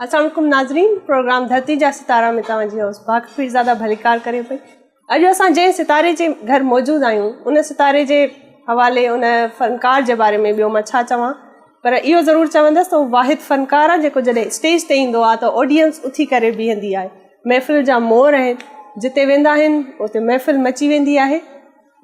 السلام عليڪم ناظرين پروگرام ڌرتي جا ستارا ۾ توهان جي هوس باغ پيرزاده ڀليڪار ڪري پئي اڄ اسان جنهن ستاري جي گهر موجود آهيون ان ستاري جي حوالي ان فنڪار جي باري ۾ ٻيو مان ڇا چوان پر اهو ضرور چوندس ته واحد فنڪار آهي جيڪو جڏهن اسٽيج تي ايندو آهي ته آڊينس اٿي ڪري بيهندي آهي محفل جا مور آهن جتي ويندا آهن اتي محفل مچي ويندي آهي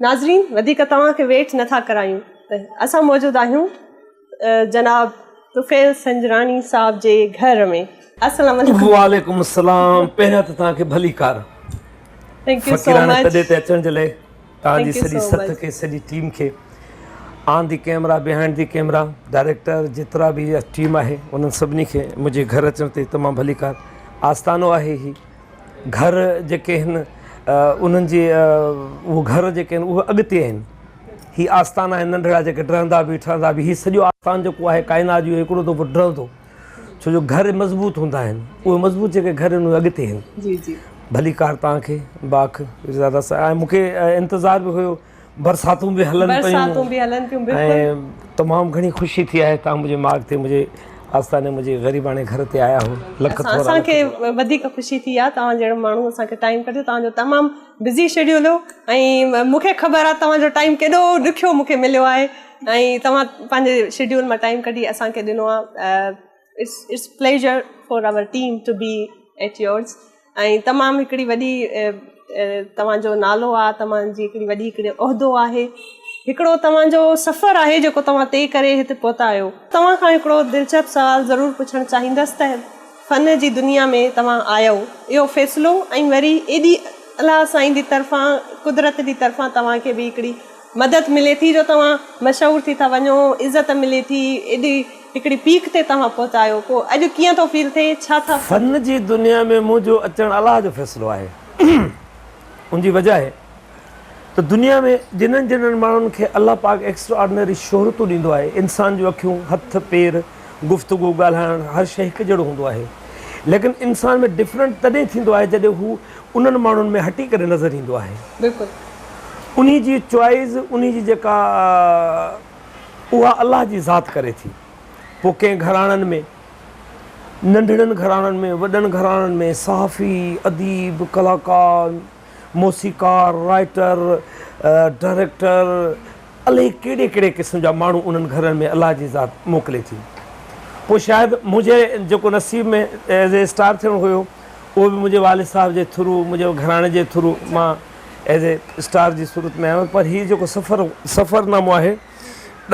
ناظرين وڌيڪ توهان کي ويٽ نٿا ڪرايون ته اسان موجود آهيون جناب طفيل سنجراڻي صاحب جي گهر ۾ السلام عليڪم وعليڪم السلام پهريان ته توهان کي ڀلي ڪار ٿينڪ يو سو مچ تڏي تي اچڻ جي لاء توهان جي سڄي سٿ کي سڄي ٽيم کي on the camera behind the camera director جيترا به ٽيم آهي انهن سڀني کي منهنجي گهر اچڻ تي تمام ڀليڪار آستانو آهي هي گهر جيڪي هن انهن جي اهو گهر جيڪي آهن اهو اڳتي آهن هي آستان آهن ننڍڙا جيڪي ڊهندا به ٺهندا به هي سڄو آستان جيڪو آهي ڪائنات جو هڪڙو دفعو ڊهندو ڇو جو گهر مضبوط هوندا آهن اهي مضبوط جيڪي گهر ان اڳتي آهن جي جي ڀلي ڪار توهان کي باک زياده سا مون کي انتظار به هيو برساتون به هلن پيون برساتون به هلن پيون بلڪل تمام گهڻي خوشي ٿي آهي توهان منهنجي ماڳ تي منهنجي آستاني منهنجي غريباڻي گهر تي آيا هو لک ٿورا اسان کي وڌيڪ خوشي ٿي آهي توهان جهڙو ماڻهو اسان کي ٽائيم ڪڍيو توهان جو تمام بزي شيڊيول هو ۽ مون کي خبر آهي توهان جو ٽائيم ڪيڏو ڏکيو مون کي مليو آهي ۽ توهان پنهنجي شيڊيول مان ٽائيم ڪڍي اسان کي ڏنو آهي it's it's pleasure for our team to be at yours ۽ تمام هڪڙي وڏي توهان جو نالو آهي توهان جي هڪڙي وڏي هڪڙي عهدو آهي هڪڙو توهان جو سفر آهي جيڪو توهان طئي ڪري هتي پهتا آهيو توهان کان هڪڙو دلچسپ سوال ضرور پڇڻ چاهيندس ته فن جي دنيا ۾ توهان آيو اهو فيصلو ۽ وري ايڏي الله سائين جي طرفان قدرت جي طرفان توهان کي به هڪڙي مدد ملي ٿي جو توهان مشهور ٿي ٿا وڃو عزت ملي ٿي ايڏي هڪڙي پيڪ تي توهان پهتايو پوء اڄ ڪيئن ٿو فيل ٿئي ڇا ٿا فن جي دنيا ۾ منهنجو اچڻ الله جو فيصلو آهي ان جي وجهه ته دنيا ۾ جنھن جنھن ماڻھن کي الله پاڪ ايڪسٽرا آرڊنري شھرتون ڏيندو آھي، انسان جون اکيون، ھٿ، پير، گفتگو، ڳالھائڻ ھر شيء ھڪ جھڙو ھوندو آھي. ليڪن انسان ۾ ڊفرنٽ تڏھن ٿيندو آھي جڏھن ھو انھن ماڻھن ۾ ھٽي ڪري نظر ايندو آھي. بلڪل. انھي جي چوائيز، انھي جي جيڪا اھا الله جي ذات ڪري ٿي. پوء ڪنھن گھراڻن ۾، ننڍڙن گھراڻن ۾، وڏن گھراڻن ۾، صحافي، اديب، ڪلاڪار، موسيقار، رائيٽر، ڊائريڪٽر الائي ڪهڙي ڪهڙي قسم جا ماڻهو انهن گهرن ۾ الله جي ذات موڪلي ٿي. پوء شايد منهنجي جيڪو نصيب ۾ ايز اي اسٽار ٿيڻو هيو اهو به منهنجي والد صاحب جي ٿرو منهنجي گهراڻي جي ٿرو مان ايز اي اسٽار جي صورت ۾ آيو پر هي جيڪو سفر سفر نامو آهي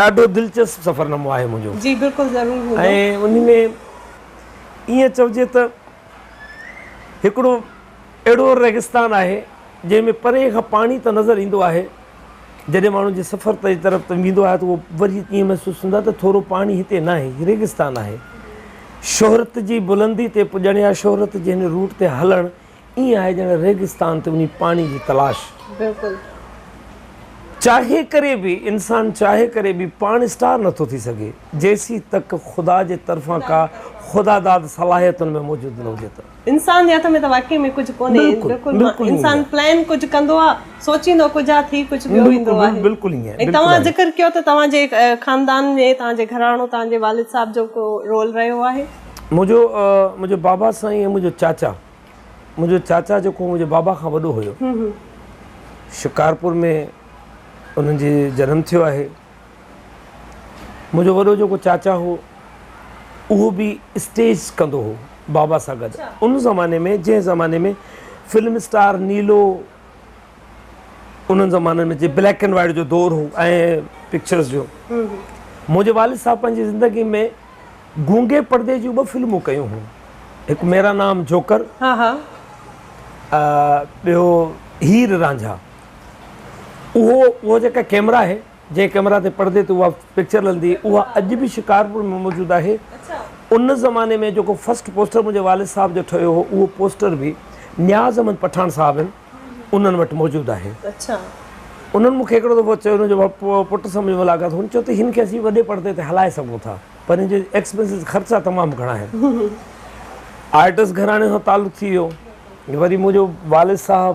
ڏاڍو دلچسپ سفر نامو آهي منهنجو جي بلڪل ضرور هوندو ۽ انهي ۾ ائين چئجي ته هڪڙو اهڙو ريگستان آهي، جنهن ۾ پرينء کان پاڻي ته نظر ايندو آهي، جڏهن ماڻهو جي سفر تي طرف ته ويندو آهي ته اهو وري ائين محسوس ٿيندو آهي ته ٿورو پاڻي هتي ناهي، هي ريگستان آهي. شهرت جي بلندي تي پڄڻ يا شهرت جي هن روٽ تي هلڻ ائين آهي ڄڻ ريگستان تي وڃي پاڻي جي تلاش. بلڪل. چاهي ڪري به، انسان چاهي ڪري به پاڻ اسٽار نه ٿو ٿي سگهي، جيسين تڪ خدا جي طرفان ڪا خداداد صلاحيت ان ۾ موجود نه هجي ته. انسان جي هٿ ۾ ته واقعي ۾ ڪجهه ڪونهي بلڪل انسان پلان ڪجهه ڪندو آ سوچيندو ڪجهه آ ٿي ڪجهه ٻيو ويندو آهي بلڪل ائين آهي توهان ذڪر ڪيو ته توهان جي خاندان ۾ توهان جي گهراڻو توهان جي والد صاحب جو ڪو رول رهيو آهي منهنجو منهنجو بابا سائين ۽ منهنجو چاچا منهنجو چاچا جيڪو منهنجي بابا کان وڏو هيو شڪارپور ۾ انهن جي جنم ٿيو آهي منهنجو وڏو جيڪو چاچا هو اهو به اسٽيج ڪندو هو بابا سان گڏ ان زماني ۾ جنهن زماني ۾ فلم اسٽار نيلو انهن زمانن ۾ جي بليڪ اینڈ وائٽ جو دور هو ۽ پڪچرس جو منهنجي والد صاحب پنهنجي زندگي ۾ گونگي پردي جون ٻه فلمون ڪيون هيون هڪ ميرا نام جوڪر ٻيو هير رانجها اهو اها جيڪا ڪيمرا آهي جنهن ڪيمرا تي پڙدي تي اها پڪچر لھندي هئي اها اڄ به شڪارپور ۾ موجود آهي ان زماني ۾ جيڪو فسٽ پوسٽر منهنجي والد صاحب جو ٺهيو هو اهو پوسٽر به نياز احمد پٺاڻ صاحب آهن انهن وٽ موجود آهي انهن مون کي هڪڙو دفعو چيو هن جو پٽ سان منهنجي ملاقات هن چيو ته هن کي اسين وڏي پڙدي تي هلائي سگهون ٿا پر هن جي ايڪسپينسز خرچا تمام گهڻا آهن آرٽس گهراڻي سان تعلق ٿي ويو وري منهنجو والد صاحب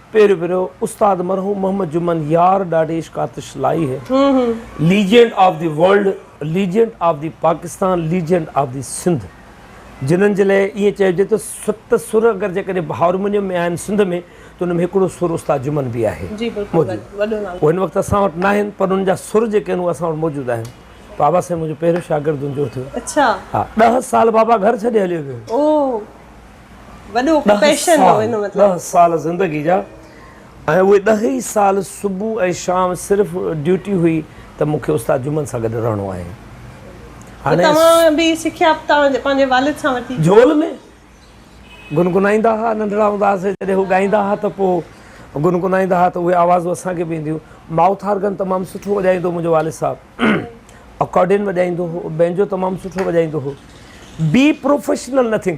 پيرو پيرو استاد مرحوم محمد جمن يار ڏاڍي عشق آتش لائي هي legend of the world legend of the Pakistan legend of the Sindh جنھن جي لاء ائين چئجي ته ست سر اگر جيڪڏهن هارمونيم ۾ آهن سنڌ ۾ ته ان ۾ هڪڙو سر استاد جمن به آهي موجود هو هن وقت اسان وٽ ناهن پر ان جا سر جيڪي آهن اهي اسان وٽ موجود آهن بابا سائين منھنجو پهريون شاگرد هن جو ٿيو ڏهه سال بابا گهر ڇڏي هليو ويو وڏو پيشن هو ان مطلب. ڏهه سال زندگي جا ۽ اهي ڏهه ئي سال صبح ۽ شام صرف ڊيوٽي هئي ته مون کي استاد جمن سان گڏ رهڻو آهي. هاڻي. پوء توهان به سکيا توهان پنهنجي والد سان ورتي. جهول ۾ گنگنائيندا ها ننڍڙا هوندا هئاسين جڏهن هو ڳائيندا ها ته پوء گنگنائيندا ها ته اهي آوازون اسان کي به اينديون. مائوٿ آرگن تمام سٺو وڄائيندو هو منهنجو والد صاحب. اڪارڊين وڄائيندو هو بينجو تمام سٺو وڄائيندو هو بي پروفيشنل نٿنگ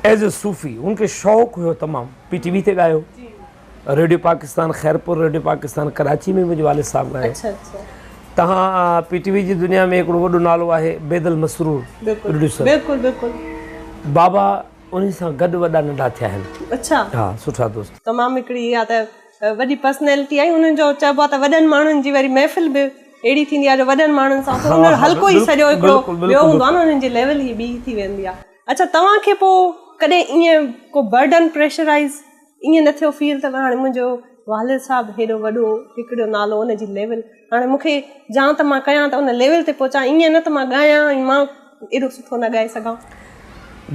ايز اي صوفي ان کي شوق هيو تمام پي ٽي وي تي ڳايو ريڊيو پاڪستان خيرپور ريڊيو پاڪستان ڪراچي ۾ منهنجي والد صاحب ڳايو اچھا اچھا تهان پي ٽي وي جي دنيا ۾ هڪڙو وڏو نالو آهي بيدل مسرور پروڊيوسر بلڪل بلڪل بابا انهي سان گڏ وڏا ننڍا ٿيا آهن اچھا ها سٺا دوست تمام هڪڙي اها ته وڏي پرسنيلٽي آهي انهن جو چئبو آهي ته وڏن ماڻهن جي وري محفل به اهڙي ٿيندي آهي جو وڏن ماڻهن سان اٿو انهن جو حلقو ئي سڄو هڪڙو ٻيو هوندو آهي نه انهن جي ليول ئي ٻي ٿي ويندي آهي اڇا توهان کي پوء ڪڏهن ائين ڪو برڊن پريشرائيز ائين نه ٿيو فيل ته هاڻي منهنجو والد صاحب هيڏو وڏو هڪڙو نالو ان جي ليول هاڻي مون کي جان ته مان ڪيان ته ان ليول تي پهچان ائين نه ته مان ڳايان ۽ مان ايڏو سٺو نه ڳائي سگهان.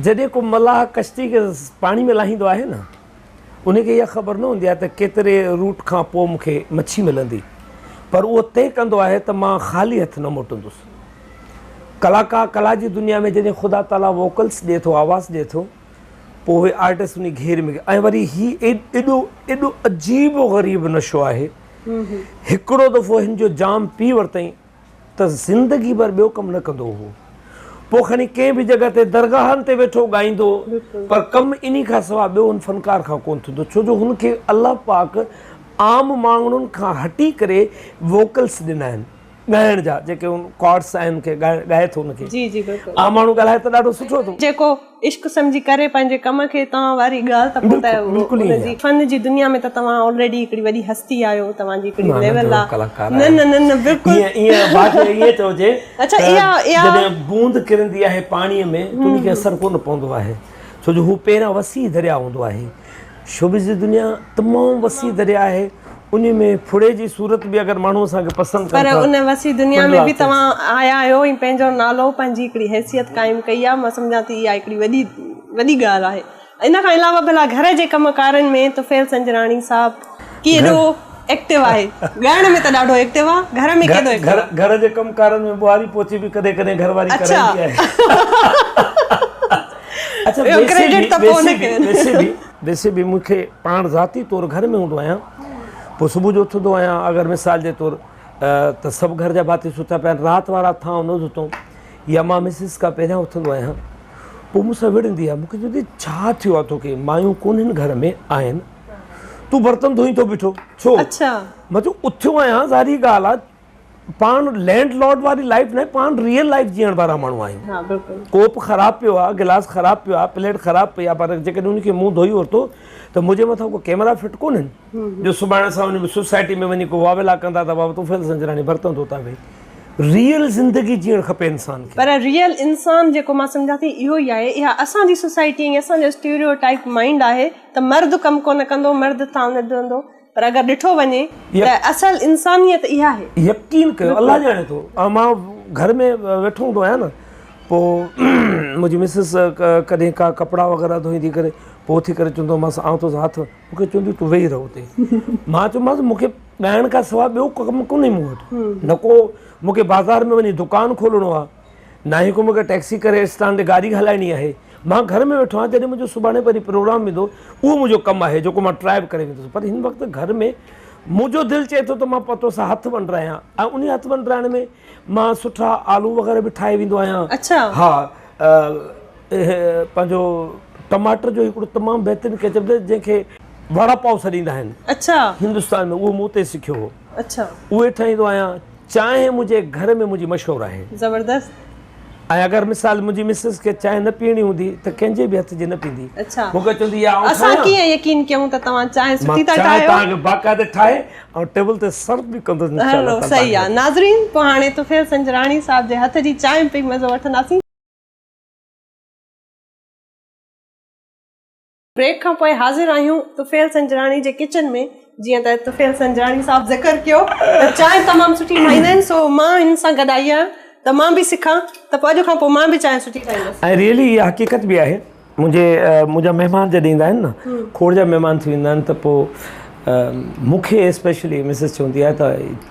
جڏهن ڪو ملاح ڪشتي کي پاڻي ۾ لاهيندو آهي نه ان کي اها خبر نه هوندي آهي ته ڪيتري روٽ کان پوء مون کي مڇي ملندي پر اهو طئي ڪندو آهي ته مان خالي هٿ نه موٽندس. ڪلاڪار ڪلا جي دنيا ۾ جڏهن خدا تعاليٰ ووڪلس ڏئي ٿو آواز ڏئي ٿو پوء اهي آرٽسٽ انهي گهير ۾ ۽ وري هي ايڏو ايڏو عجيب و غريب نشو آهي. هڪڙو دفعو هن جو جام پي ورتائين ته زندگي ڀر ٻيو ڪم نه ڪندو هو. پوء کڻي ڪنهن به جڳهه تي درگاهن تي ويٺو ڳائيندو پر ڪم انهي کان سوا ٻيو هن فنڪار کان ڪونه ٿيندو ڇو جو هن کي الله پاڪ عام ماڻهن کان هٽي ڪري ووڪلس ڏنا آهن. ڳائڻ جا جيڪي ان ڪارڊس آهن کي ڳائي ٿو ان کي جي جي بلڪل عام ماڻهو ڳالهائي ته ڏاڍو سٺو ٿو جيڪو عشق سمجهي ڪري پنهنجي ڪم کي توهان واري ڳالهه ته پوء ته بلڪل ان جي فن جي دنيا ۾ ته توهان آلريڊي هڪڙي وڏي هستي آهيو توهان جي هڪڙي ليول آ نه نه نه نه بلڪل ائين بات ائين چئجي اچا اها اها جڏهن بوند ڪرندي آهي پاڻي ۾ ته ان کي اثر ڪونه پوندو آهي ڇو جو هو پهريان وسيع درياء هوندو آهي شوبز جي دنيا تمام وسيع درياء آهي انهي ۾ ڦڙي جي صورت به اگر ماڻهو اسان کي پسند ڪن ٿا پر ان وسيع دنيا ۾ به توهان آيا آهيو ۽ پنهنجو نالو پنهنجي هڪڙي حيثيت قائم ڪئي آهي مان سمجهان ٿي اها هڪڙي وڏي وڏي ڳالهه آهي ان کان علاوه ڀلا گهر جي ڪم ڪارن ۾ طفيل سنجراڻي صاحب ڪيڏو ايڪٽو آهي ڳائڻ ۾ ته ڏاڍو ايڪٽو آهي گهر ۾ ڪيڏو ايڪٽو آهي گهر جي ڪم ڪارن ۾ ٻوهاري پوچي به ڪڏهن ڪڏهن گهر واري ڪرائيندي آهي اڇا اچا ويسي به ويسي به ويسي به ويسي به مون کي پاڻ ذاتي طور گهر ۾ هوندو آهيان پوء صبح جو اٿندو آهيان اگر مثال جي طور ته سڀ گهر جا ڀاتي ستا پيا آهن رات وارا ٿانء نه ڌتئون يا مان مسز کان پهريان اٿندو آهيان پوء مون سان وڙهندي آهي مون کي چوندي ڇا ٿيو آهي توکي مايون ڪونهن گهر ۾ آهن تون برتن ڌوئين ٿو بيٺو ڇو؟ اچا مان چيو اٿيو آهيان ظاهري ڳالهه آهي پاڻ لينڊ لارڊ واري لائيف ناهي پاڻ ريئل لائيف جيئڻ وارا ماڻهو آهيون ها بلڪل ڪوپ خراب پيو آهي گلاس خراب پيو آهي پليٽ خراب پئي آهي پر جيڪڏهن ان کي مون ڌوئي ورتو ته منهنجي مٿان ڪو ڪيمرا فٽ ڪونهن جو سڀاڻي اسان ان سوسائٽي ۾ وڃي ڪو واويلا ڪندا ته بابا طوفيل سنجراڻي برتن ڌوتا ويهي ريئل زندگي جيئڻ کپي انسان کي پر ريئل انسان جيڪو مان سمجهان ٿي اهو ئي آهي اها اسان جي سوسائٽي ۽ اسان جو اسٽيريو ٽائيپ مائنڊ آهي ته مرد ڪم ڪونه ڪندو مرد ٿانو نه ڌوئندو پر اگر ڏٺو وڃي ته اصل انسانيت اها آهي. يقين ڪيو الله ڄاڻي ٿو ۽ مان گهر ۾ ويٺو هوندو آهيان نه پوء منهنجي مسز ڪڏهن ڪا ڪپڙا وغيره ڌوئيندي ڪري پوء اٿي ڪري چوندو مانس آئون ٿو هٿ مون کي چوندي تون ويهي رهه اتي مان چيومانس مون کي ڳائڻ کان سواء ٻيو ڪم ڪونهي مون وٽ نه ڪو مون کي بازار ۾ وڃي دڪان کولڻو آهي ناهي ڪو مون کي ٽيڪسي ڪري اسٽانڊ تي گاڏي هلائڻي آهي. مان گهر ۾ ويٺو آهيان، جڏهن منهنجو سڀاڻي پرين پروگرام هوندو، اهو منهنجو ڪم آهي، جيڪو مان ٽرائي به ڪري ويندو هوس، پر هن وقت گهر ۾ منهنجو دل چئي ٿو ته مان پتو سان هٿ ونڊرايان ۽ انهي هٿ ونڊرائڻ ۾ مان سٺا آلو وغيره به ٺاهي ويندو آهيان. ها پنهنجو ٽماٽر جو هڪڙو تمام بهترين ڪيچپ اٿس، جنهن کي وڙا پاو سڏيندا آهن هندستان ۾، اهو مون اتي سکيو هو. اهو ئي ٺاهيندو آهيان. چانهه منهنجي گهر ۾ منهنجي مشهور آهي. زبردست. ۽ اگر مثال منهنجي مسز کي چانهه نه پيئڻي هوندي ته ڪنهن جي به هٿ جي نه پيندي. اڇا. مونکي چوندي يا آئون ٺاهيان. اسان ڪيئن يقين ڪيون ته توهان چانهه سٺي ٿا ٺاهيو. مان چانهه توهان کي باقاعده ٺاهي ۽ ٽيبل تي سرو به ڪندس انشاء الله تعالي. صحيح آهي ناظرين پوء هاڻي طفيل سنجراڻي صاحب جي هٿ جي چانهه ۾ پئي مزو وٺنداسين. بريڪ کان پوء حاضر آهيون طفيل سنجراڻي جي ڪچن ۾ جيئن ته طفيل سنجراڻي صاحب ذڪر ڪيو ته چانهه تمام سٺي ٺاهيندا آهن سو مان هن سان گڏ آئي آهيان ته مان به سکان ته پوء اڄ کان پوء مان به چانهه سٺي ٺاهيندس. ۽ ريئلي اها حقيقت به آهي منهنجي منهنجا مهمان جڏهن ايندا آهن نه کوڙ جا مهمان ٿي ويندا آهن ته پوء مون کي اسپيشلي مسز چوندي آهي ته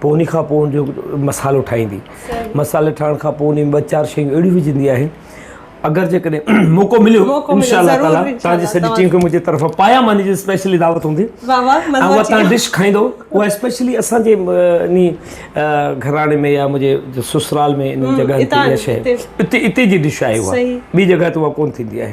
پوء ان کان پوء ان جو مصالحو ٺاهيندي مصالحي ٺاهڻ کان پوء ان ٻه چار شيون اهڙيون وجهندي آهي اگر جيڪڏهن موقعو مليو انشاء الله تعالي تنهن جي سڄي ٽيم کي منهنجي طرف پايا ماني جي اسپيشلي دعوت هوندي اها تنهن ڊش کائيندو اها اسپيشلي اسان جي ان گهراڻي ۾ يا منهنجي سسرال ۾ ان جڳهه تي شايد اتي اتي جي ڊش آهي اها ٻي جڳهه تي اها ڪون ٿيندي آهي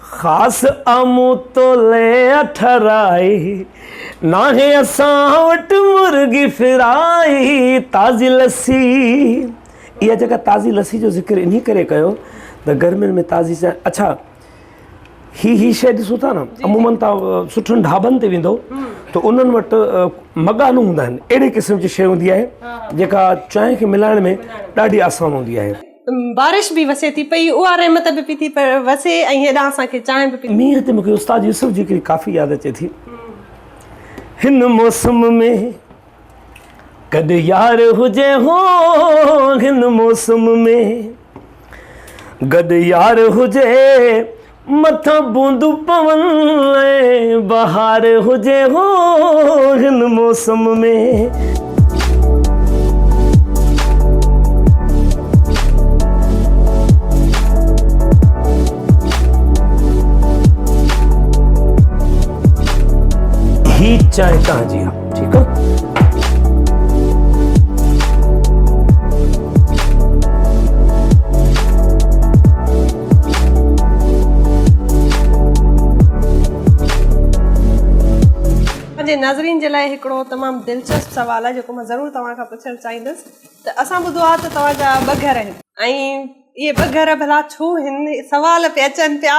خاص آمون تولي اٺرائي، ناهي اسان وٽ مرغي فرائي، تازي لسي، اها جيڪا تازي لسي جو ذڪر انهي ڪري ڪيو ته گرمين ۾ تازي چانهه، اڇا هي هي شيء ڏسو ٿا نه عمومن توهان سٺن ڍابن تي ويندو ته انهن وٽ مڳانا هوندا آهن اهڙي قسم جي شيء هوندي آهي جيڪا چانهه کي ملائڻ ۾ ڏاڍي آسان هوندي آهي. بارش به وسي ٿي پئي اها رحمت به پئي ٿي وسي ۽ هيڏانهن اسان کي چانهه به پئي ٿي مينهن تي مون کي استاد يوسف جي هڪڙي ڪافي ياد اچي ٿي هن موسم ۾ ڪڏ يار هجي هو هن موسم ۾ گڏ يار هجي مٿان بوندون پون ۽ بهار هجي هو هن موسم ۾. هي چانهه تنهنجي آ. ٺيڪ آ ناظرين جي لاء هڪڙو تمام دلچسپ سوال آهي جيڪو مان ضرور توهان کان پڇڻ چاهيندس ته اسان ٻڌو آهي ته توهان جا ٻه گهر آهن ۽ اهي ٻه گهر ڀلا ڇو هن سوال پي اچن پيا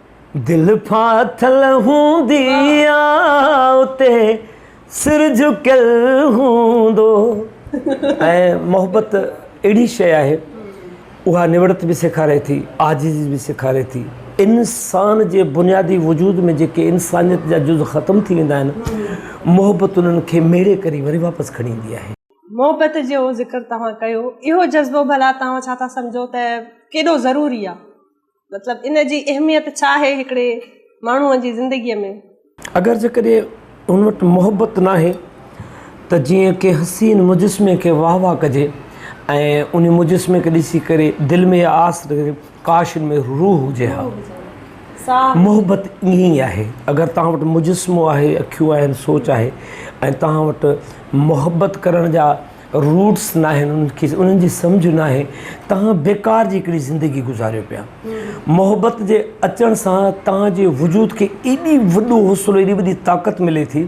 دل ڦاٿل هوندي آ اتي سر جهڪيل هوندو. ۽ محبت اهڙي شيء آهي اها نوڙت به سيکاري ٿي عاجزي به سيکاري ٿي انسان جي بنيادي وجود ۾ جيڪي انسانيت جا جز ختم ٿي ويندا آهن محبت انهن کي ميڙي ڪري وري واپس کڻي ايندي آهي. محبت جو ذڪر توهان ڪيو اهو جذبو ڀلا توهان ڇا ٿا سمجهو ته ڪيڏو ضروري آ؟ مطلب ان جي اهميت ڇا آهي هڪڙي ماڻهو جي زندگي ۾؟ اگر جيڪڏهن هن وٽ محبت ناهي ته جيئن ڪنهن حسين مجسمي کي واهه واهه ڪجي ۽ ان مجسمي کي ڏسي ڪري دل ۾ اها آس رهي ڪاش هن ۾ روح هجي ها محبت ائين ئي آهي اگر توهان وٽ مجسمو آهي اکيون آهن سوچ آهي ۽ توهان وٽ محبت ڪرڻ جا روٽس ناهن انهن کي انهن جي سمجهه ناهي توهان بيڪار جي هڪڙي زندگي گذاريو پيا محبت جي اچڻ سان توهان جي وجود کي ايڏي وڏو حوصلو ايڏي وڏي طاقت ملي ٿي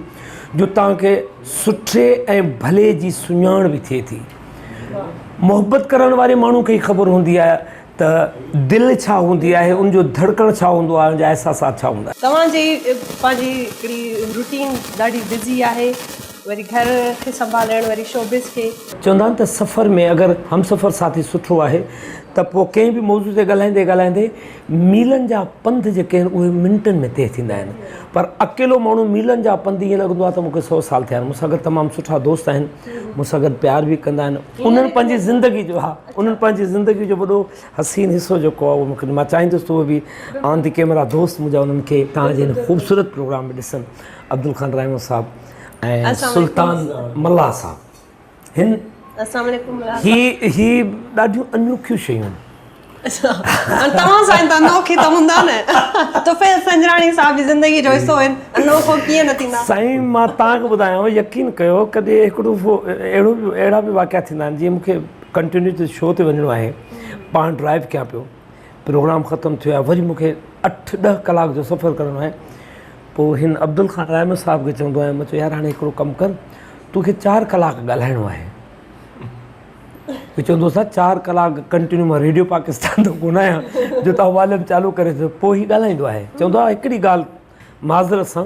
جو توهان کي سٺي ۽ ڀلي جي سڃاڻ به ٿئي ٿي محبت ڪرڻ واري ماڻهو کي خبر هوندي آهي ته دل ڇا هوندي آهي ان جو ڌڙڪڻ ڇا هوندو آهي ان جا احساسات ڇا هوندا آهن توهان جي پنهنجي هڪڙي روٽين ڏاڍي بزي آهي وري گهر کي سنڀالڻ وري شوبز کي. چوندا آهن ته سفر ۾ اگر همسفر ساٿي سٺو آهي ته پوء ڪنهن به موضوع تي ڳالهائيندي ڳالهائيندي ميلن جا پنڌ جيڪي آهن اهي منٽن ۾ طئي ٿيندا آهن پر اڪيلو ماڻهو ميلن جا پنڌ ايئن لڳندو آهي ته مون کي سو سال ٿيا آهن مون سان گڏ تمام سٺا دوست آهن مون سان گڏ پيار به ڪندا آهن انهن پنهنجي زندگي جو ها انهن پنهنجي زندگي جو وڏو حسين حصو جيڪو آهي اهو مون کي مان چاهيندس ته اهي به آن دي ڪيمرا دوست منهنجا انهن کي تهان جي هن خوبصورت پروگرام ۾ ڏسن عبدالخان رحمان صاحب ۽ سلطان ملاح صاحب هن هي هي ڏاڍيون انوکيون شيون توهان سائين ته انوکي ته هوندا نه طفيل سنجراڻي صاحب جي زندگي جو حصو آهن انوکو ڪيئن نه ٿيندا سائين مان توهان کي ٻڌايان يقين ڪيو ڪڏهن هڪڙو اهڙو اهڙا به واقعا ٿيندا آهن جيئن مون کي ڪنٽينيو شو تي وڃڻو آهي پاڻ ڊرائيو ڪيان پيو پروگرام ختم ٿيو آهي وري مونکي اٺ ڏهه ڪلاڪ جو سفر ڪرڻو آهي پوء هن عبدل خان رحمت صاحب کي چوندو آهيان مان چيو يار هاڻي هڪڙو ڪم ڪر توکي چار ڪلاڪ ڳالهائڻو آهي چوندو آهي چار ڪلاڪ ڪنٽينيو مان ريڊيو پاڪستان تان ڪون آهيان جو تون واليوم چالو ڪري ڇڏيو پوء هي ڳالهائيندو آهي چوندو آهي هڪڙي ڳالهه معذرت سان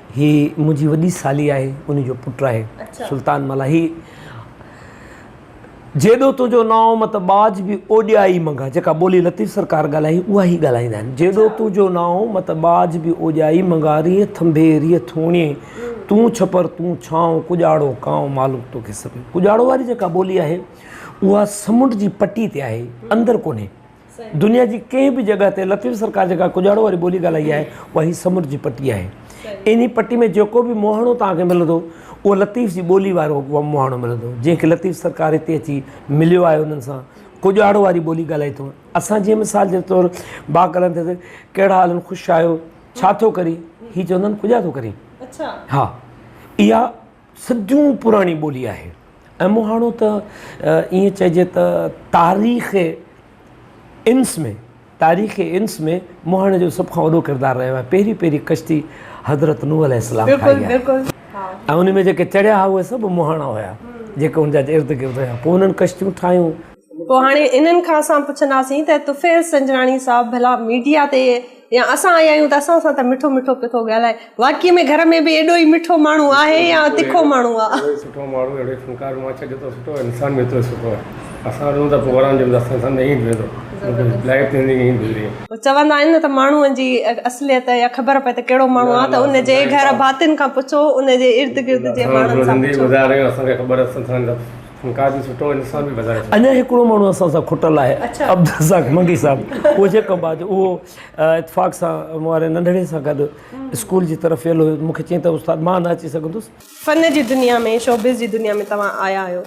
هي منهنجي وڏي سالي آهي، انهي جو پٽ آهي. سلطان ملاحي، جيڏو تنهنجو نانء مت ٻاجهه به اوڄائي منگهه، جيڪا ٻولي لطيف سرڪار ڳالهائي، اها هي ڳالهائيندا آهن. جيڏو تنهنجو نانء مت ٻاجهه به اوڄائي منگهه، ريء ٿنڀي ريء ٿوڻي، تون ڇپر تون ڇانء، ڪڄاڙو ڪانء معلوم توکي سڀئي. ڪڄاڙو واري جيڪا ٻولي آهي، اها سمنڊ جي پٽي تي آهي، اندر ڪونهي. دنيا جي ڪنهن به جڳهه تي لطيف سرڪار جيڪا ڪڄاڙو واري ٻولي ڳالهائي آهي اها هي سمنڊ جي پٽي آهي انهي پٽي ۾ جيڪو به مهاڻو توهان کي ملندو اهو لطيف جي ٻولي وارو مهاڻو ملندو جنهن کي لطيف سرڪار هتي اچي مليو آهي انهن سان ڪڄاڙو واري ٻولي ڳالهائي ٿو اسان جي مثال جي طور با ڪلن ٿي ڪهڙا حالن خوش آهيو ڇا ٿو ڪري هي چوندن ڪڄا ٿو ڪري اچا ها اها سڌيون پراڻي ٻولي آهي ۽ مهاڻو ته ائين چئجي ته تاريخ انس ۾ تاريخ انس ۾ مهاڻي جو سڀ کان وڏو ڪردار رهيو آهي پهرين پهرين ڪشتي حضرت نوح عليه السلام ٺاهي آهي ۽ ان ۾ جيڪي چڙهيا هئا اهي سڀ مهاڻا هيا جيڪي ان جا ارد گرد هيا پوء انهن ڪشتيون ٺاهيون پوء هاڻي انهن کان اسان پڇنداسين ته طفيل سنجراڻي صاحب ڀلا ميڊيا تي يا اسان آيا آهيون ته اسان سان ته مٺو مٺو پيو ٿو ڳالهائي. واقعي ۾ گهر ۾ به ايڏو ئي مٺو ماڻهو آهي يا تکو ماڻهو آ. اهڙو ئي سٺو ماڻهو، اهڙو ئي فنڪار ماڇ جيترو سٺو آهي، انسان به ايترو ئي سٺو آهي. اسان رهون ٿا پوئران جي اندر، اسان سان ائين ٿيندو. لائف ٿيندي ائين ئي گذري. چوندا آهن نه ته ماڻهوء جي اصليت يا خبر پئي ته ڪهڙو ماڻهو آ ته ان جي گهر ڀاتين کان پڇو، ان جي ارد گرد جي ماڻهن سان پڇو. اسان زندگي گذاري رهيا آهيون، اسان کي خبر آهي اسان سان اڃا هڪڙو ماڻهو اسان سان کٽل آهي عبدالرزاق منگي صاحب اهو جيڪب آهي جو اهو اتفاق سان مون واري ننڍڙي سان گڏ اسڪول جي طرف ويل هيو مونکي چيائين ته استاد مان نه اچي سگهندس. فن جي دنيا ۾ شوبز جي دنيا ۾ توهان آيا آهيو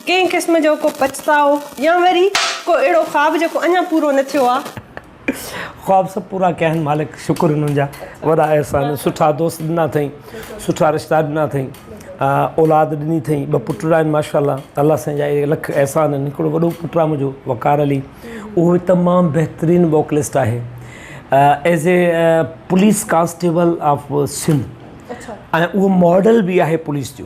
ڪنهن قسم جو ڪو پڇتاء يا وري ڪو اهڙو خواب جيڪو اڃا پورو نه ٿيو آهي؟ خواب سڀ پورا ڪيا آهن مالڪ شڪر انهن جا وڏا احسان سٺا دوست ڏنا اٿئي سٺا رشتا ڏنا اٿئي اولاد ڏني اٿئي ٻه پٽڙا آهن ماشاء الله الله سائين جا اهي لک احسان آهن هڪڙو وڏو پٽ آهي منهنجو وقار علي اهو تمام بهترين ووڪلسٽ آهي as a police constable of Sindh اهو ماڊل به آهي پوليس جو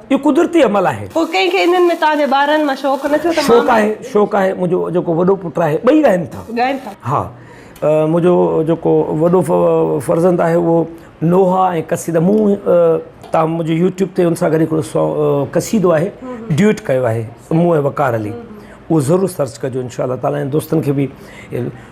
اهو قدرتي عمل آهي. پوء ڪنهن کي انهن ۾ توهان جي ٻارن مان شوق نه ٿيو ته شوق مامي. آهي شوق آهي منهنجو جيڪو وڏو پٽ آهي ٻئي ڳائن ٿا. ڳائن ٿا. ها منهنجو جيڪو وڏو فرزند آهي اهو نوحا ۽ قصيدا مون تان منهنجو يوٽيوب تي ان سان گڏ هڪڙو سو قصيدو آهي ڊيوٽ ڪيو آهي مون ۽ وقار علي اهو ضرور سرچ ڪجو انشاء الله تعالي ۽ دوستن کي به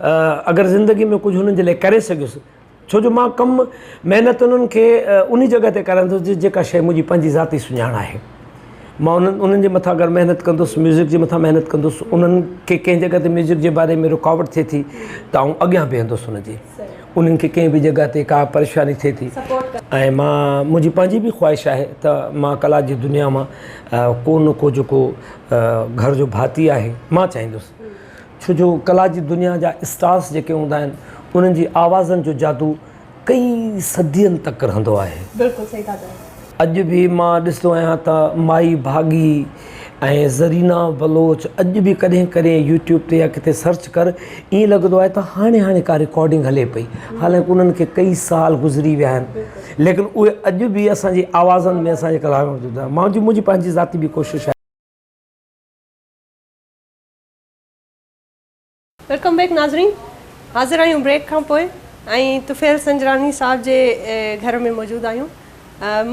اگر زندگي ۾ ڪجهه انهن جي لاء ڪري سگهيس ڇو جو مان ڪم محنت انهن کي انهي جڳهه تي ڪرائيندس جي جيڪا شيء منهنجي پنهنجي ذاتي سڃاڻ آهي مان انهن انهن جي مٿان اگر محنت ڪندس ميوزڪ جي مٿان محنت ڪندس انهن کي ڪنهن جڳهه تي ميوزڪ جي باري ۾ رڪاوٽ ٿئي ٿي ته آئون اڳيان بيهندس انهن جي انهن کي ڪنهن به جڳهه تي ڪا پريشاني ٿئي ٿي ۽ مان منهنجي پنهنجي به خواهش آهي ته مان ڪلا جي دنيا مان ڪو نه ڪو جيڪو گهر جو ڀاتي آهي مان چاهيندس ڇو جو ڪلا جي دنيا جا اسٽارس جيڪي هوندا آهن انهن جي آوازن جو جادو ڪئي صدين تڪ رهندو آهي. بلڪل صحيح ٿا چئو. اڄ به مان ڏسندو آهيان ته مائي ڀاڳي ۽ زرينا بلوچ اڄ به ڪڏهن ڪڏهن يوٽيوب تي يا ڪٿي سرچ ڪر ائين لڳندو آهي ته هاڻي هاڻي ڪا رڪارڊنگ هلي پئي حالانڪ انهن کي ڪئي سال گذري ويا آهن ليڪن اهي اڄ به اسان جي آوازن ۾ اسان جي ڪلا ۾ موجود آهن منهنجي پنهنجي ذاتي به ڪوشش آهي ويلڪم بيڪ ناظرين حاضر آهيون بريڪ کان پوء ۽ طفيل سنجراني صاحب جي گهر ۾ موجود آهيون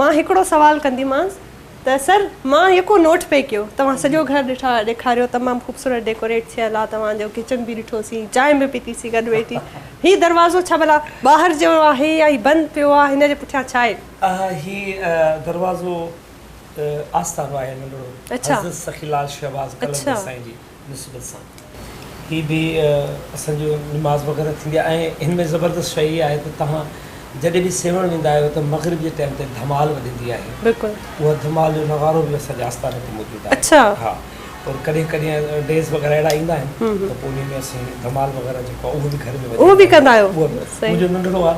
مان هڪڙو سوال ڪنديمانس ته سر مان يڪو نوٽ پئي ڪيو توهان سڄو گهر ڏٺا ڏيکاريو تمام خوبصورت ڊيڪوريٽ ٿيل آهي توهان جو ڪچن به ڏٺو سين چانهه به پيتي سين گڏ ويٺي هي دروازو ڇا ڀلا ٻاهر جو آهي يا هي بند پيو آهي هن جي پٺيان ڇا آهي اها هي دروازو ته آستانو آهي ننڍڙو حضرت سخي لال شهباز قلندر سائين جي نسبت سان هي به اسان جو نماز وغيره ٿيندي آهي ۽ هن ۾ زبردست شيء هي آهي ته توهان جڏهن به سيوهڻ ويندا آهيو ته مغرب جي ٽائيم تي ڌمال وڄندي آهي بلڪل اها ڌمال جو نغارو به اسان جي آستاني تي موجود آهي اڇا ها پر ڪڏهن ڪڏهن ڊيز وغيره اهڙا ايندا آهن ته پوء انهي ۾ اسين ڌمال وغيره جيڪو اهو به گهر ۾ اهو به ڪندا آهيو منهنجو ننڍڙو آهي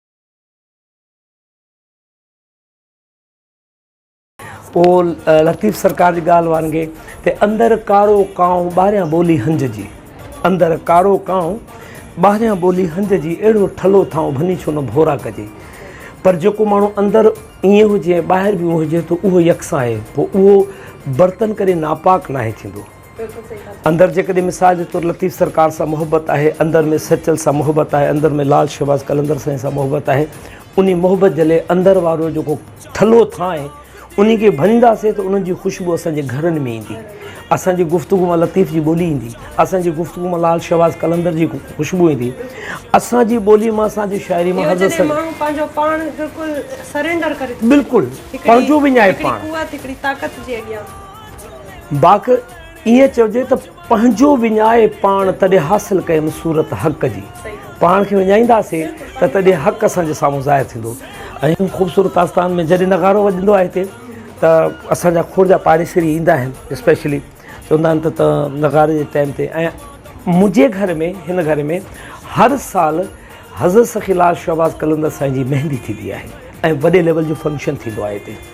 پوء لطيف سرڪار جي ڳالهه وانگي ته اندر ڪارو ڪانء ٻاهريان ٻولي هنج جي اندر ڪارو ڪانء ٻاهريان ٻولي هنج جي اهڙو ٺلهو ٿانء ڀني ڇو نه ڀورا ڪجي پر جيڪو ماڻهو اندر ائين هجي ۽ ٻاهر به ائين هجي ته اهو يڪسان آهي پوء اهو برتن ڪڏهن ناپاڪ ناهي ٿيندو اندر جيڪڏهن مثال جي طور لطيف سرڪار سان محبت آهي، اندر ۾ سچل سان محبت آهي، اندر ۾ لال شهباز قلندر سائين سان محبت آهي، انهي محبت جلي اندر وارو جيڪو ٿلهو ٿانء انهي کي ڀڃنداسين ته انهن جي خوشبو اسان جي گهرن ۾ ايندي، اسان جي گفتگو مان لطيف جي ٻولي ايندي، اسان جي گفتگو مان لال شهباز قلندر جي خوشبو ايندي، اسان جي ٻولي مان اسان جي شاعري مان حضرت سرڪار. اهو جڏهن ماڻهو پنهنجو پاڻ بلڪل سرينڊر ڪري ٿو. بلڪل پنهنجو وڃائي پاڻ. هڪڙي قوت هڪڙي طاقت جي اڳيان. باک ائين چئجي ته پنهنجو وڃائي پاڻ تڏهن حاصل ڪيم صورت حق جي پاڻ کي وڃائينداسين ته تڏهن حق اسان جي سامهون ظاهر ٿيندو ۽ خوبصورت آستان ۾ جڏهن نغارو وڄندو آهي هتي ته اسان جا کوڙ جا پاڙيسري ايندا آهن اسپيشلي چوندا آهن ته نغاري جي ٽائيم تي ۽ منهنجي گهر ۾ هن گهر ۾ هر سال حضرت سخي لال شهباز قلندر سائين جي مهندي ٿيندي آهي ۽ وڏي ليول جو فنڪشن ٿيندو آهي هتي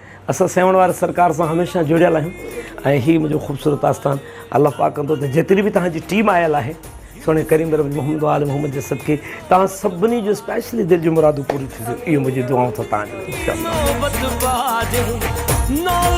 اسان سيوهڻ واري سرڪار سان هميشه جڙيل آهيون ۽ هي منهنجو خوبصورت آستان الله پاڪ ڪندو ته جيتري به توهان جي ٽيم آيل آهي سهڻي ڪريم رب محمد وال محمد جي صدقي توهان سڀني جو اسپيشلي دل جون مرادون پوري ٿينديون اهو منهنجي دعائون ٿا توهان جي لاء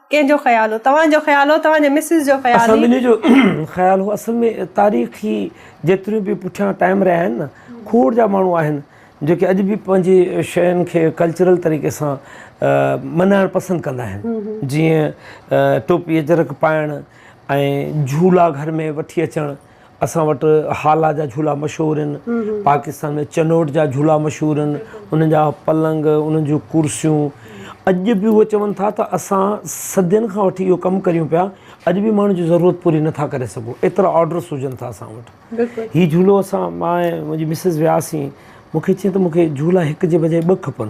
ڪنهن جو خيال هو؟ توهان جو خيال هو؟ توهان جي مسز جو خيال هئي؟ اسان ٻنهي جو خيال هو. اصل ۾ تاريخي جيتريون به پٺيان ٽائيم رهيا آهن نه کوڙ جا ماڻهو آهن جيڪي اڄ به پنهنجي شين کي ڪلچرل طريقي سان منائڻ پسند ڪندا آهن جيئن ٽوپي اجرڪ پائڻ ۽ جهولا گهر ۾ وٺي اچڻ. اسان وٽ هالا جا جھولا مشهور آهن. پاڪستان ۾ چنوٽ جا جھولا مشهور آهن. انهن جا پلنگ، انهن جون ڪرسيون اڄ به اهي چون ٿا ته اسان صدين کان وٺي اهو ڪم ڪريون پيا، اڄ به ماڻهن جي ضرورت پوري نه ٿا ڪري سگهون، ايترا آرڊرس هجن ٿا اسان وٽ. هي جھولو اسان مان ۽ منهنجي مسز وياسين، مون کي چيائين ته مون کي جھولا هڪ جي بجاء ٻه کپن.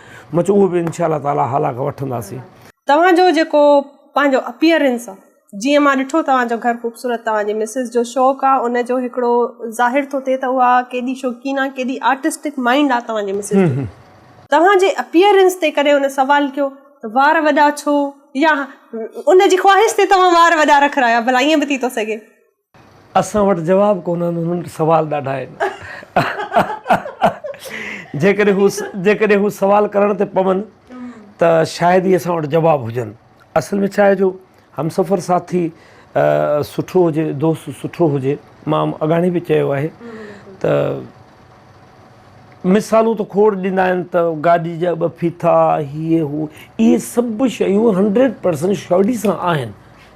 مچ اهو به انشاء الله تعالٰي هالاڪ وٺنداسين. توهان جو جيڪو پنهنجو اپيئرنس آ جيئن مان ڏٺو توهان جو گهر خوبصورت توهان جي مسز جو شوق آ ان جو هڪڙو ظاهر ٿو ٿئي ته اها ڪيڏي شوقين آ ڪيڏي آرٽسٽڪ مائنڊ آ توهان جي مسز جو توهان جي اپيئرنس تي ڪڏهن ان سوال ڪيو ته وار وڏا ڇو يا ان جي خواهش تي توهان وار وڏا رکرايا ڀلا ائين به ٿي ٿو سگهي. اسان وٽ جواب ڪونه آهن هنن وٽ سوال ڏاڍا آهن جيڪڏهن هو سوال ڪرڻ تي پون ته شايد ئي اسان وٽ جواب هجن اصل ۾ ڇا آهي جو همسفر ساٿي سٺو هجي دوست سٺو هجي مان اڳاڻي به چيو آهي ته مثالون ته کوڙ ڏيندا آهن ته گاڏي جا ٻه ڦيٿا هي هو اهي سڀ شيون هنڊريڊ پرسنٽ شيورٽي سان آهن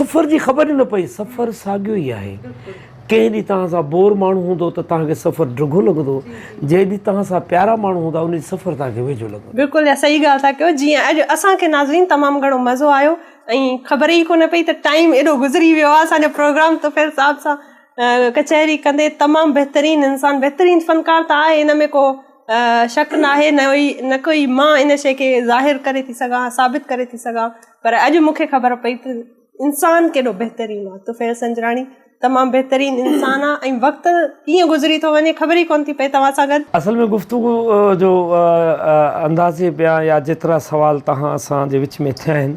سفر جي خبر ئي نه پئي. سفر ساڳيو ئي آهي. ڪنهن ڏينهن توهان سان بور ماڻهو هوندو ته توهان کي سفر ڊگهو لڳندو. جنهن ڏينهن توهان سان پيارا ماڻهو هوندا ان ڏينهن سفر توهان کي ويجهو لڳندو. بلڪل اها صحيح ڳالهه ٿا ڪيو جيئن اڄ اسان کي ناظرين تمام گهڻو مزو آيو ۽ خبر ئي ڪونه پئي ته ٽائيم ايڏو گذري ويو آهي اسان جو پروگرام طفيل صاحب سان ڪچهري ڪندي تمام بهترين انسان بهترين فنڪار ته آهي ان ۾ ڪو شڪ ناهي نه ڪو ئي مان ان شيء کي ظاهر ڪري ٿي سگهان ثابت ڪري ٿي سگهان پر اڄ مون کي خبر پئي ته انسان ڪيڏو بهترين آهي طفيل سنجراڻي تمام بهترين انسان آهي ۽ وقت ڪيئن گذري ٿو وڃي خبر ئي ڪونه ٿي پئي توهان سان گڏ اصل ۾ گفتگو جو اندازي بيان يا جيترا سوال توهان اسان جي وچ ۾ ٿيا آهن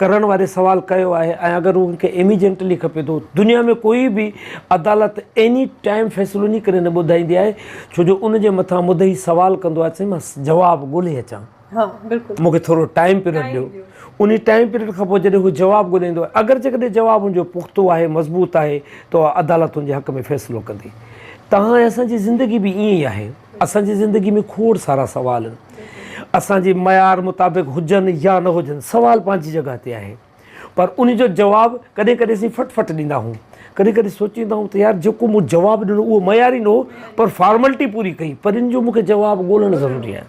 ڪرڻ واري سوال ڪيو آهي ۽ اگر هو کي ايميجنٽلي کپي ٿو دنيا ۾ ڪوئي به عدالت ايني ٽائيم فيصلو انهي ڪري نه ٻڌائيندي آهي ڇو جو ان جي مٿان مدعي سوال ڪندو آهي ته سائين مان جواب ڳولي اچان مون کي ٿورو ٽائيم پيريڊ ڏيو انهي ٽائيم پيريڊ کان پوء جڏهن هو جواب ڳولي ايندو آهي اگر جيڪڏهن جواب ان جو پختو آهي مضبوط آهي ته اها عدالت ان جي حق ۾ فيصلو ڪندي توهان ۽ اسان جي زندگي به ائين ئي آهي اسان جي زندگي ۾ کوڙ سارا سوال آهن اسان جي معيار مطابق هجن يا نه هجن سوال پنهنجي جڳهه تي آهي پر ان جو جواب ڪڏهن ڪڏهن اسين فٽ فٽ ڏيندا آهيون ڪڏهن ڪڏهن سوچيندا آهيون ته يار جيڪو مون جواب ڏنو اهو معياري نه هو پر فارملٽي پوري ڪئي پر ان جو مون کي جواب ڳولڻ ضروري آهي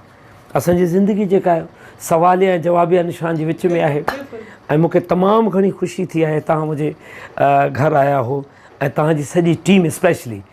اسان جي زندگي جيڪا آهي سواليا ۽ جوابيا نشان جي وچ ۾ آهي ۽ مون کي تمام گهڻي خوشي ٿي آهي تان منهنجي گهر آيا هو ۽ تان جي سڄي ٽيم اسپيشلي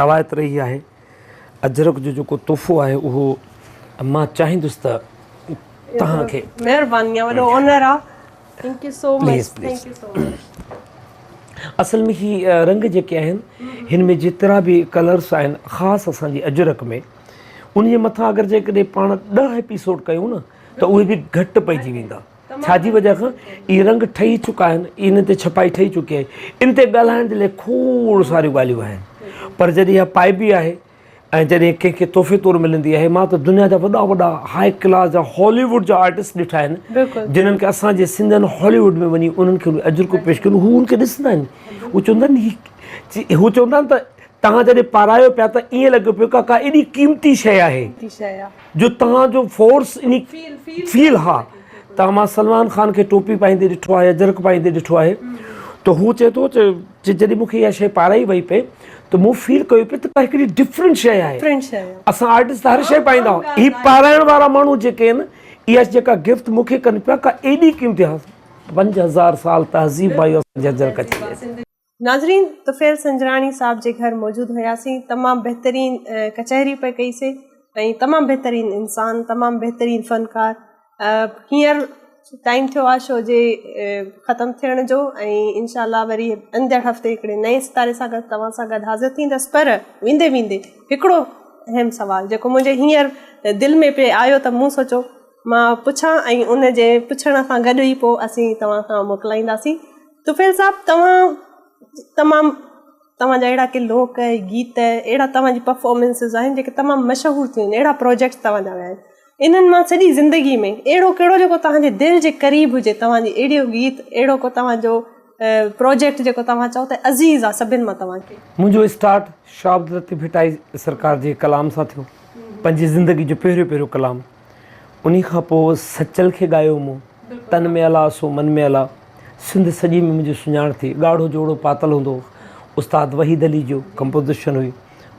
روايت رهي آهي اجرڪ جو جيڪو تحفو آهي اهو مان چاهيندس ته توهان کي مهرباني وڏو اونر آ thank you so much thank you so much اصل ۾ هي رنگ جيڪي آهن هن ۾ جيترا به ڪلرس آهن خاص اسان جي اجرڪ ۾ انهي مٿان اگر جيڪڏهن پاڻ 10 ايپيسوڊ ڪيون نه ته اهي به گهٽ پئجي ويندا ڇا جي وجهه کان اهي رنگ ٺهي چڪا آهن، انهن تي ڇپائي ٺهي چڪي آهي، ان تي ڳالهائڻ جي لاء کوڙ ساريون ڳالهيون آهن، پر جڏهن اها پائبي آهي ۽ جڏهن ڪنهن کي تحفي طور ملندي آهي، مان ته دنيا جا وڏا وڏا هاء ڪلاس جا هالي ووڊ جا آرٽسٽ ڏٺا آهن، جنهن کي اسان جي سنڌين هالي ووڊ ۾ وڃي انهن کي اهي اجرڪون پيش ڪيون، هو ان کي ڏسندا آهن، هو چوندا آهن هي هو چوندا آهن ته توهان جڏهن پارايو پيا ته ائين لڳيو پيو ڪاڪا ايڏي قيمتي شيء آهي. جو توهان جو فورس اني فيل ها توهان مان سلمان خان کي ٽوپي پائيندي ڏٺو آهي اجرڪ پائيندي ڏٺو آهي ته هو چئي ٿو ته جڏهن مونکي اها شيء پارائي وئي پئي ته مون فيل ڪيو پئي ته ڪا هڪڙي ڊفرنٽ شيء آهي اسان آرٽسٽ ته هر شيء پائيندا آهيون هي پارائڻ وارا ماڻهو جيڪي آهن اها جيڪا گفٽ مونکي ڪن پيا ڪا ايڏي قيمتي هاس پنج هزار سال تهذيب آهي اسان جي اجرڪ جي ناظرين طفيل سنجراڻي صاحب جي گهر موجود هياسين تمام بهترين ڪچهري پئي ڪئي سي ۽ تمام بهترين انسان تمام بهترين فنڪار هينئر ٽائيم ٿيو آهي شو جي ختم ٿيڻ جو ۽ انشاء الله وري اندڙ هفتي هڪڙي نئين ستاري سان گڏ توهان سان گڏ حاضر ٿيندس پر ويندي ويندي هڪڙو اهم سوال جيڪو منهنجي هينئر دل ۾ پئي آيو ته مون سوچو مان پڇان ۽ ان جي پڇڻ سان گڏ ئي پوء اسين توهان کان موڪلائينداسين طفيل صاحب توهان تمام توهان جا اهڙا ڪي لوڪ ۽ گيت اهڙا توهان جي پرفارمنسز آهن جيڪي تمام مشهور ٿيون اهڙا پروجيڪٽس توهان جا ويا آهن انهن مان سڄي زندگي ۾ اهڙو ڪهڙو جيڪو توهان جي دل جي قريب هجي توهان جي اهڙو گيت اهڙو ڪو توهان جو پروجيڪٽ جيڪو توهان چئو ته عزيز آهي سڀن مان توهان کي منهنجو اسٽارٽ شاهه عبداللطيف ڀٽائي سرڪار جي ڪلام سان ٿيو پنهنجي زندگي جو پهريون پهريون ڪلام انهي کان پوء سچل کي ڳايو مون تن ۾ الا سو من ۾ الا سنڌ سڄي ۾ منهنجي سڃاڻ ٿي ڳاڙهو جوڙو پاتل هوندو هو استاد وحيد علي جو ڪمپوزيشن هئي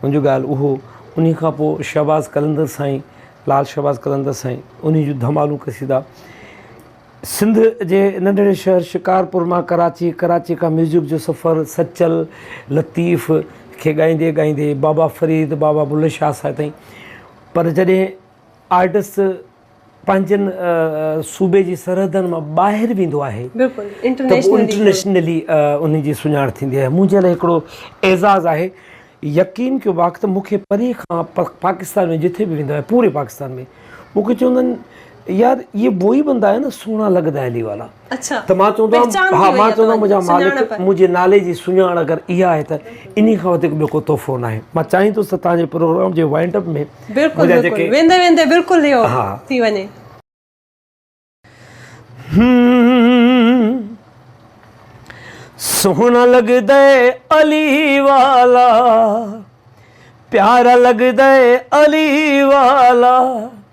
ان جو ڳالهه اهو انهي کان پوء شهباز قلندر سائين لال شهباز قلندر سائين انهي جون ڌمالون قصيدا سنڌ جي ننڍڙي شهر شڪارپور مان ڪراچي ڪراچي کان ميوزڪ جو سفر سچل لطيف کي ڳائيندي ڳائيندي بابا فريد بابا بلهه شاهه صاحب تائين پر جڏهن آرٽسٽ پنهنجن صوبي جي سرحدن مان ٻاهر ويندو آهي ته انٽرنيشنلي ان جي سڃاڻ ٿيندي آهي منهنجي لاء هڪڙو اعزاز آهي يقين ڪيو باقي ته مونکي پري کان پاڪستان ۾ جٿي به ويندو آهي پوري پاڪستان ۾ مونکي چوندا آهن يار يي ووئي بندا هي نا سهڻا لڳدا هي علي والا اڇا ته مان چوندو آهيان ها مان چوندو آهيان منهنجا مالڪ منهنجي نالي جي سڃاڻ اگر اها آهي ته انهي کان وڌيڪ ٻيو ڪو تحفو ناهي مان چاهين ٿو ته تنهنجي پروگرام جي وائنڊ اپ ۾ بلڪل بلڪل ويندي ويندي بلڪل اهو ٿي وڃي. سهڻا لڳدئي علي والا پيارا لڳدئي علي والا.